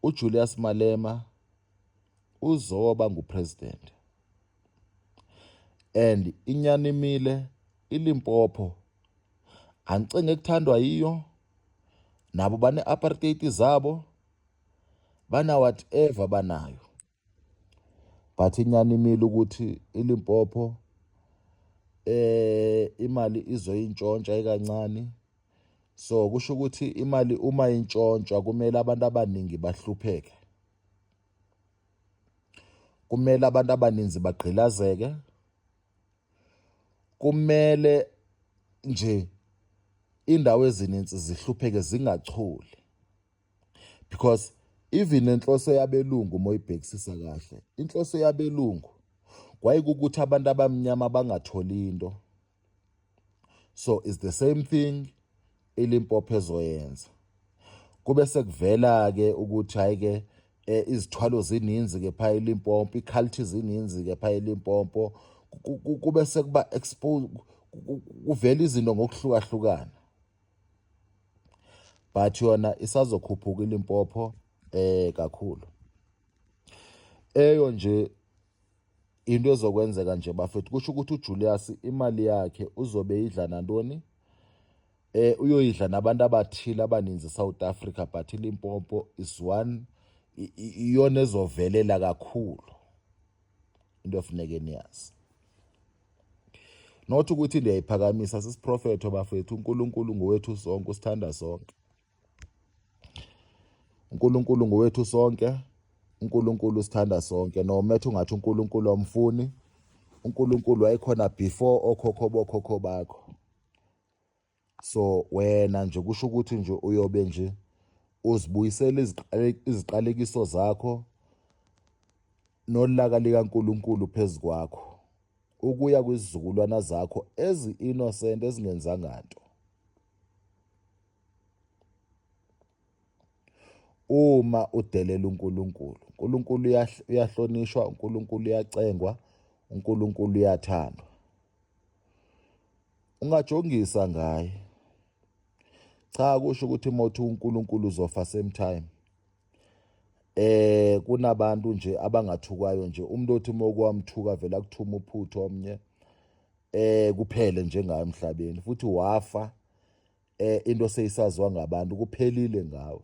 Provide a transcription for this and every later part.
uJulius Malema uzoba ngupresident and inyanimile iLimpopo angicinge kuthandwa yiyo nabo bane-apartheid zabo bana-whatever banayo but inyani imile ukuthi iLimpopo eh imali izoyintshontsha ikancane so kusho ukuthi imali uma intshontshwa kumele abantu abaningi bahlupheke kumele abantu abaninzi bagqilazeke kumele nje indawo ezininzi zihlupheke zingacholi because even nenhloso yabelungu uma uyibhekisisa kahle inhloso yabelungu kwayikukuthi abantu abamnyama bangatholi into so is the same thing ilimpopo ezoyenza kube sekuvela ke ukuthi hayi ke eh, izithwalo zininzi ke phaya elimpopo iculture zininzi ke phaya elimpopo kube sekuba expose kuvela izinto ngokuhlukahlukana but yona isazokhuphuka iLimpopo eh kakhulu eyo nje into ezokwenzeka nje bafethu kusho ukuthi uJulius imali yakhe uzobe idla nantoni eh uyoyidla nabantu abathile abaninzi South Africa but iLimpopo is one iyona ezovelela kakhulu into efuneke niyazi not ukuthi liyayiphakamisa sisiprofetho bafethu uNkulunkulu ngowethu sonke usithanda sonke uNkulunkulu ngowethu sonke uNkulunkulu usithanda sonke no methu ngathi uNkulunkulu omfuni uNkulunkulu wayekhona before okhokho bokhokho bakho so wena nje kusho ukuthi nje uyobe nje uzibuyisela iziqalekiso zakho nolaka likaNkuluNkulu phezu kwakho ukuya kwizizukulwana zakho ezi-innocent ezingenzanga nto uma udelela uNkulunkulu. uNkulunkulu uyahlonishwa, uNkulunkulu uyacengwa, uNkulunkulu uyathandwa. Ungajongisa ngaye. Cha kusho ukuthi mothi uNkulunkulu uzofa same time. Eh kunabantu nje abangathukwayo nje umuntu othi mokwamthuka vela kuthuma uphutho omnye eh kuphele njengayo emhlabeni futhi wafa eh into seyisaziwa ngabantu kuphelile ngawe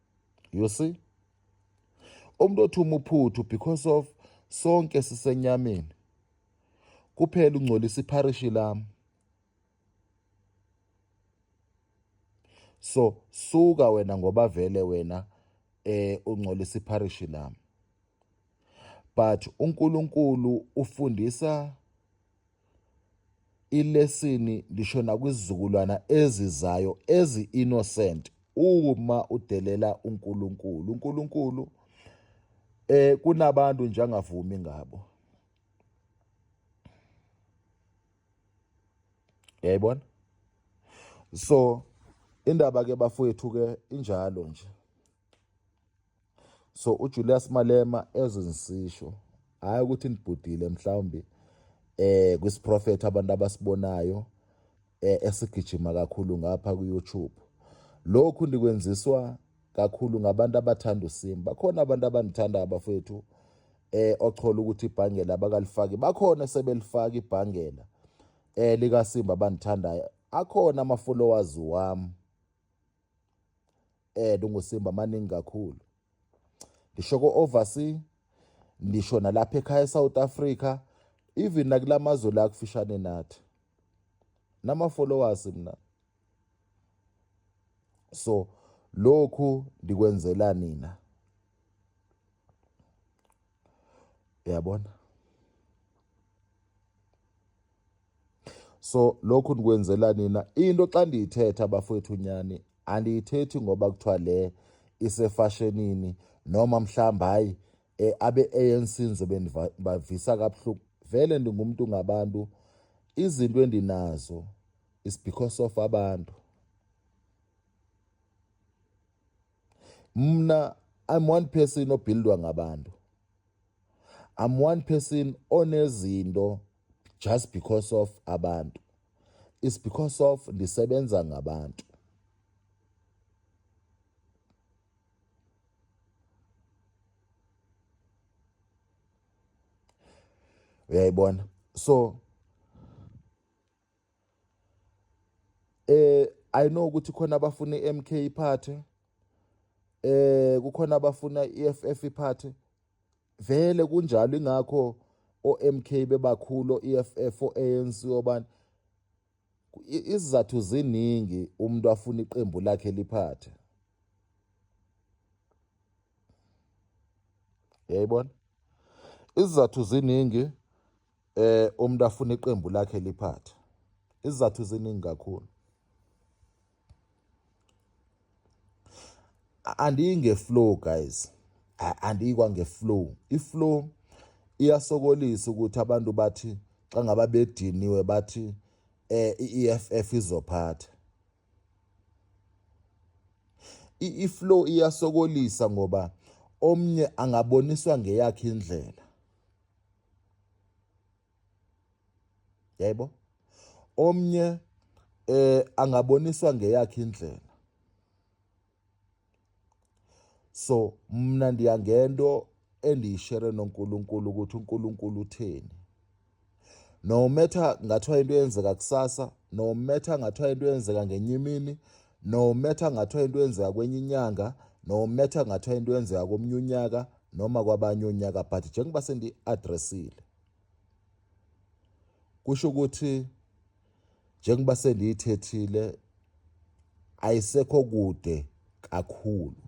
you see umuntu othi umuphuthu because of sonke sisenyameni kuphela ungcolisa ipharishi lami so suka wena ngoba vele wena eh ungcolisa ipharishi lami but uNkulunkulu ufundisa ilesini lisho nakwizizukulwana ezizayo ezi-innocent uma udelela uNkulunkulu uNkulunkulu eh kunabantu nje angavumi ngabo yayibona so indaba ke bafowethu ke injalo nje so uJulius Malema ezinsisho hayi ukuthi nibhudile mhlawumbe eh kwisiprofet abantu abasibonayo eh, esigijima kakhulu ngapha ku-YouTube lokhu ndikwenziswa kakhulu ngabantu abathanda uSimu bakhona abantu abandithanda abafethu eh ochola ukuthi ibhangela abakalifaki bakhona sebelifaka ibhangela eh likaSimba abandithandayo akhona ama followers wami eh lungusimba maningi kakhulu ngisho ko overseas ngisho nalapha ekhaya eSouth Africa even nakulamazwe la kufishane nathi nama followers mina so lokhu ndikwenzela nina uyabona so lokhu ndikwenzela nina into xa ndiyithetha bafowethu nyani andiyithethi ngoba kuthiwa le isefashenini noma mhlawumbi hayi um abe-anc ndizobe ndibavisa kabuhlungu vele ndingumntu ngabantu izinto endinazo is because of abantu mna i'm one person obuildwa ngabantu I'm one person onezinto just because of abantu. It's because of ndisebenza ngabantu. uyayibona so eh i know ukuthi khona abafuna iMK iphathe eh kukhona abafuna iFF iphathe vele kunjalo ingakho oMK bebakhulu iFF oANC obani izizathu ziningi umuntu afuna iqembu lakhe liphathe yayibona izizathu ziningi eh umuntu afuna iqembu lakhe liphathe izizathu ziningi kakhulu andiyi ngeflow guys andiyikwa ngeflow iflow iyasokolisa ukuthi abantu bathi xa ngaba bediniwe bathi eh i-EFF izophatha i-flow iyasokolisa ngoba omnye angaboniswa ngeyakhe indlela yebo omnye eh angaboniswa ngeyakhe indlela so mna ndiya ngento endiyishere noNkulunkulu ukuthi uNkulunkulu utheni no matter ngathiwa into eyenzeka kusasa no matter ngathiwa into eyenzeka ngenye imini no matter ngathiwa into yenzeka kwenye inyanga no matter ngathiwa into yenzeka komnye unyaka noma kwabanye onyaka but njengoba sendiyi-adressile kusho ukuthi njengoba sendiyithethile ayisekho kude kakhulu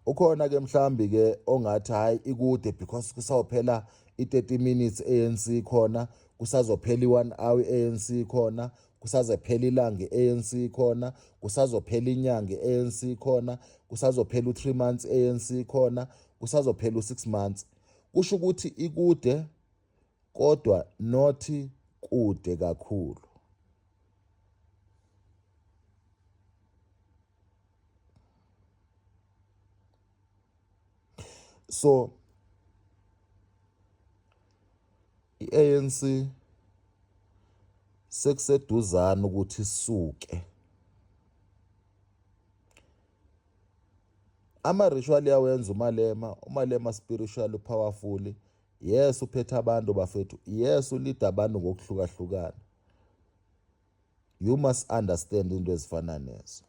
ukhona ke mhlambi ke ongathi hayi ikude because kusawuphela i-30 minutes ANC khona kusazophela i-1 hour i-ANC khona kusazephela ilanga i-ANC khona kusazophela inyanga i-ANC khona kusazophela u-3 months i-ANC khona kusazophela u-6 months kusho ukuthi ikude kodwa not kude kakhulu so i-ANC sekuseduzana ukuthi isuke ama-ritual yawenza umalema umalema spiritual powerful yes uphethe abantu bafethu yes ulida abantu ngokuhlukahlukana you must understand into ezifana nezo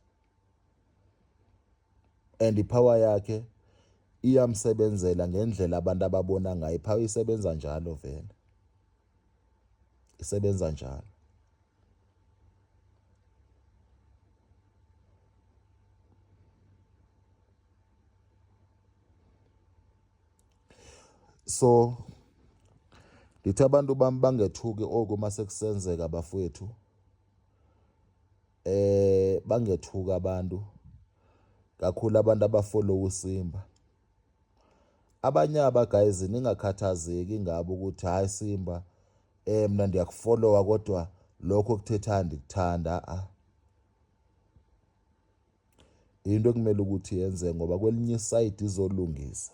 and ipower yakhe iyamsebenzela ngendlela abantu ababona ngayo ipower isebenza njalo vele isebenza njalo so ngithi abantu bami bangethuki oku uma sekusenzeka bafowethu eh bangethuka abantu kakhulu abantu abafollow usimba abanye aba guys ningakhathazeki ngabo ukuthi hayi simba eh mina ndiyakufollowa kodwa lokho kuthetha ndikuthanda a ah. into ekumele ukuthi yenze ngoba kwelinye isayidi izolungisa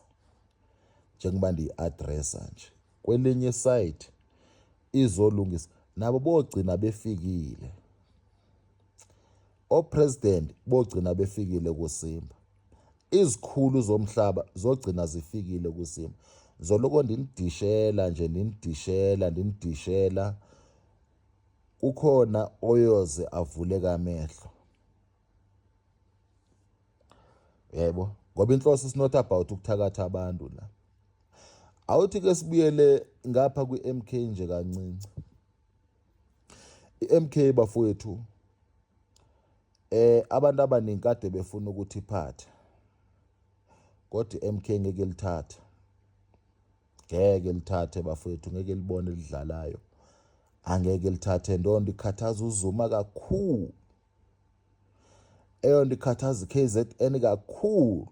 njengoba ndiyi-adressa nje kwelinye isayidi izolungisa nabo bogcina befikile opresident bogcina befikile kusimba izikhulu zomhlaba zogcina zifikile kusimba zoloko ndinidishela nje ndinidishela ndinidishela kukhona oyoze avuleka amehlo yebo ngoba inhloso is not about ukuthakatha abantu la awuthi ke sibuyele ngapha kwi-MK nje kancinci i-MK bafowethu eh abantu abaningi kade befuna ukuthi iphathe kodwa i-MK ngeke lithathe ngeke lithathe bafowethu ngeke libone lidlalayo angeke lithathe ndondo ikhathaza uzuma kakhulu eyonto ikhathaza i-kzn kakhulu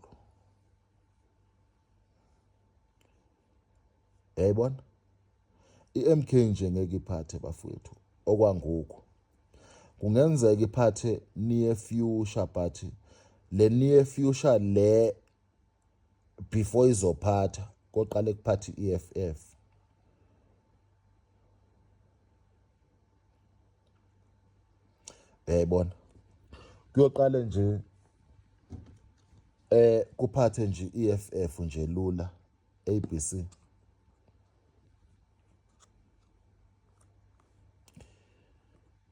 yayibona i-mk nje ngeke iphathe bafowethu okwangoku kungenzeka iphathe near future but le near future le before izophatha koqale kuphatha i-eff uyayibona kuyoqale nje eh kuphathe nje iEFF nje lula ABC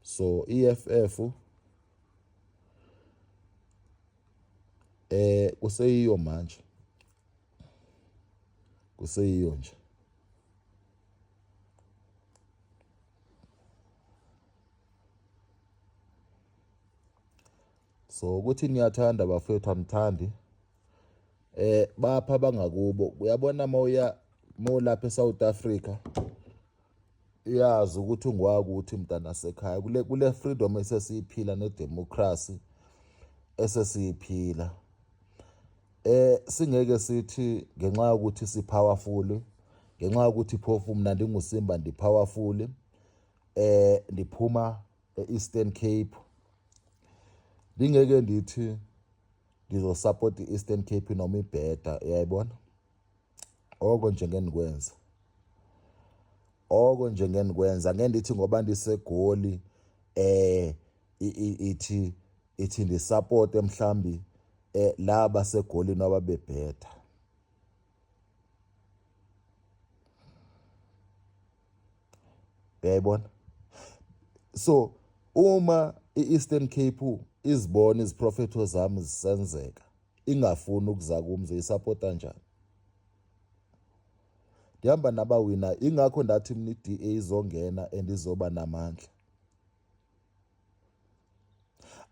so EFF eh kuseyiyo manje kuseyiyo nje so ukuthi niyathanda bafethu amthandi eh bapha bangakubo uyabona mawuya mawulapha eSouth Africa iyazi ukuthi ungwakuthi mntana sekhaya kule kule freedom esesiyiphila ne democracy esesiyiphila Eh singeke sithi ngenxa yokuthi si powerful ngenxa yokuthi phofu mina ndingusimba ndi powerful eh ndiphuma e-Eastern Cape ndingeke ndithi ndizosupport i-Eastern Cape noma ibheda uyayibona oko nje ngeke ndikwenze oko nje ngeke ndikwenza ngeke ndithi ngoba ndisegoli eh ithi ithi ndisapote mhlambi eh laba segolini ababebhetha uyayibona so uma i-eastern cape izibona iziprofetho zami zisenzeka ingafuni ukuza kumi zoyisapota njani ndihamba nabawina ingakho ndathi mna i-da izongena and izoba namandla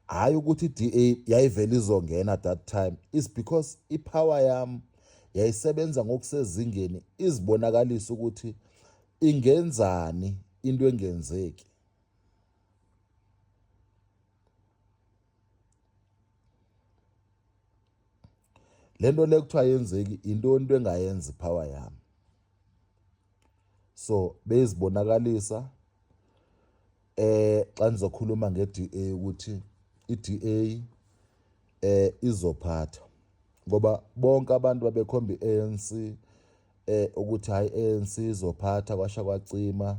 hhayi ukuthi i-da yayivele izongena that time is because ipower yam yayisebenza ngokusezingeni izibonakalisa ukuthi ingenzani into engenzeki le nto le kuthiwa yenzeki yintoni into engayenzi power yami so beyizibonakalisa eh xa nizokhuluma ngeDA ukuthi iDA eh izophatha ngoba bonke abantu babekhomba iANC eh ukuthi hayi ANC izophatha kwasha kwacima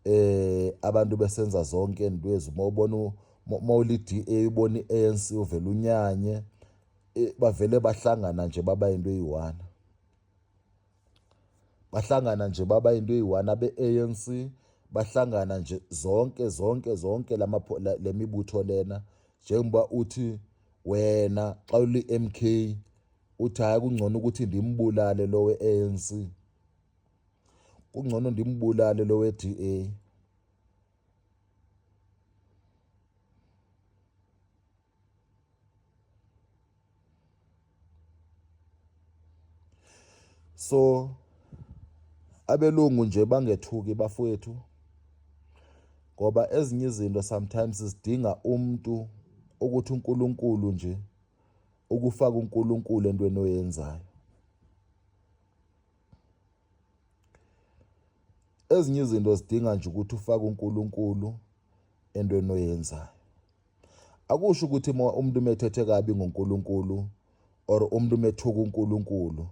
eh abantu besenza zonke indwezi uma ubona uma uliDA ubona iANC uvela unyanye eh, bavele bahlangana nje baba into eyiwana bahlangana nje baba into eyiwana beANC bahlangana nje zonke zonke zonke lama lemibutho lena njengoba uthi wena xa uli MK uthi hayi kungcono ukuthi ndimbulale lowe ANC kungcono ndimbulale lo we-DA so abelungu nje bangethuki bafowethu ngoba ezinye izinto sometimes zidinga umuntu ukuthi uNkulunkulu nje ukufaka uNkulunkulu entweni oyenzayo ezinye izinto zidinga nje ukuthi ufake uNkulunkulu entweni oyenzayo akusho ukuthi umuntu umethethe kabi ngoNkulunkulu or umuntu umethuka uNkulunkulu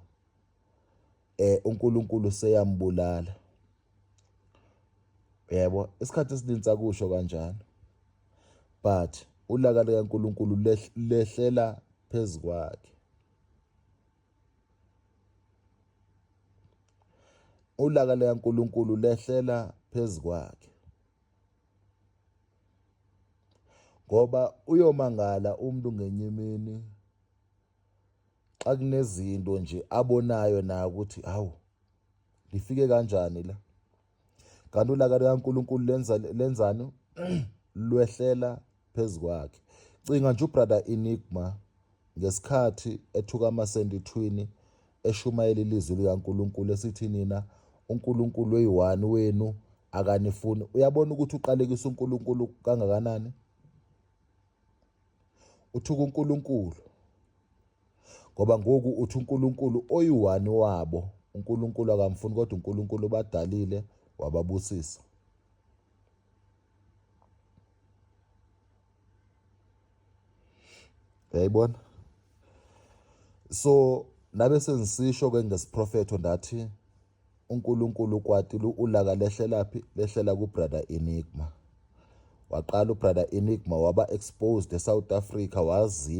eh uNkulunkulu seyambulala yebo isikhathi esiningi sakusho kanjalo but ulaka likaNkulunkulu lehlela phezu kwakhe Ulaka likaNkulunkulu lehlela phezu kwakhe. Ngoba uyomangala umuntu ngenye imini xa kunezinto nje abonayo naye ukuthi hawu lifike kanjani la Kanti ulaka likaNkulunkulu lenza lenzani? Lwehlela phezu kwakhe. Cinga nje ubrother Enigma ngesikhathi ethuka amasendithwini eshumayela ilizwi likaNkulunkulu esithi nina uNkulunkulu oyiwani wenu akanifuni. Uyabona ukuthi uqalekisa uNkulunkulu kangakanani? uthuka uNkulunkulu ngoba ngoku uthi uNkulunkulu oyiwani wabo uNkulunkulu akamfuni kodwa uNkulunkulu ubadalile wababusisa yayibona so nabe senzisisho ke ngesiprofetho ndathi uNkulunkulu kwati lu ulaka lehlelaphi lehlela ku brother Enigma waqala u brother Enigma waba exposed e South Africa waziwa